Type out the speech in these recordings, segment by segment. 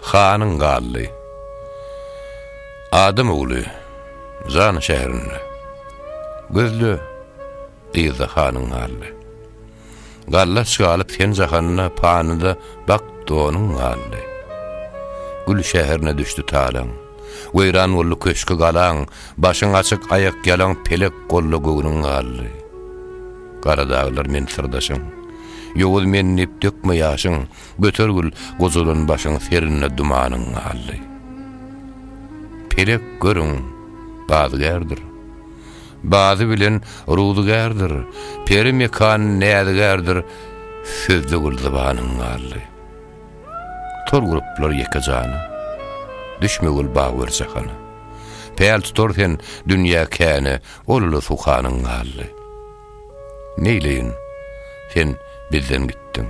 Hanyň galdy. Adam ogly, Zan şäherinde. Gözle, yzda hanyň galdy. Gallaç galyp sen jahanda, panyda bak donuň galdy. Gül şäherine düşdi talaň. Weýran boldy köşki galaň, başyň açyk aýak ýalaň pelek golda göwnüň galdy. Gara daglar men syrdaşyň. Ýowuz men diýip dökme ýaşyň, Götergül gojalan başyň serinde dumanyň galdy. Pelek görüň, bazygärdir. Bazy bilen ruzygärdir, peri mekan näzigärdir, sözde gül zybanyň galdy. Tor guruplar ýeke jana, düşme gül bag ber jahana. Päl tutar sen dünýä käne, ol uly suhanyň galdy. Neýleýin, sen bizden gitdiň.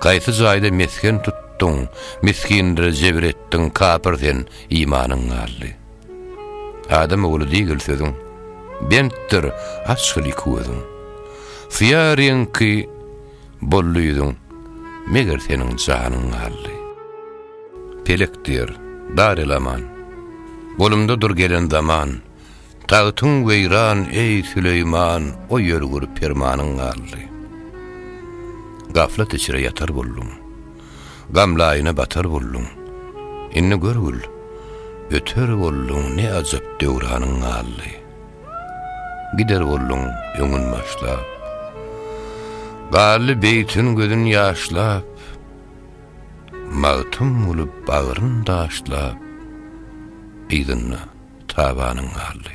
Gaýsy jaýda mesgen tutduň, Misginlere jebir etdiň, Kapyr sen, imanyň galdy. Adam ogly diýgil sözüň, Bentdir, açgyl iki gözüň. Syýa reňki boldy ýüzüň, Meger seniň janyň galdy. Pelek diýer, dar elaman, Golumda dur gelen zaman, Tagtyň weýran, eý, Süleýman, O ýörgür permanyň galdy. Gaflat içre ýatar bolduň, Gam laýyna batar bolduň, Indi görgül, öter bolduň, Ne ajap döwranyň galdy. Gider bolduň öňün başlap, Galdy beýtin gözün ýaşlap, Magtym bolup bagryn daşlap, Yzynda tabanyň galdy.